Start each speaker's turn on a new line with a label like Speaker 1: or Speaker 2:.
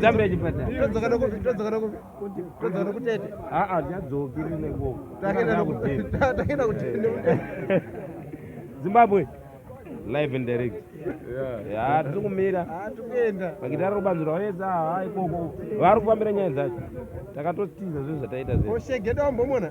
Speaker 1: Zambia chipatara. Todzoka nokupi? Todzoka
Speaker 2: nokupi? Todzoka nokutete. Ah ah nyadzoki rine ngo.
Speaker 1: Takenda nokutete.
Speaker 2: Takenda kutete. Zimbabwe.
Speaker 1: Live and direct. Yeah. Yeah, tiri kumira. Ah, tukuenda. Pakitara
Speaker 2: rubanzo rwaweza
Speaker 1: ha ah, ikoko. Vari kufambira nyaya dzacho. Takatotiza zvinhu zvataita zve. Oshege dombo mona.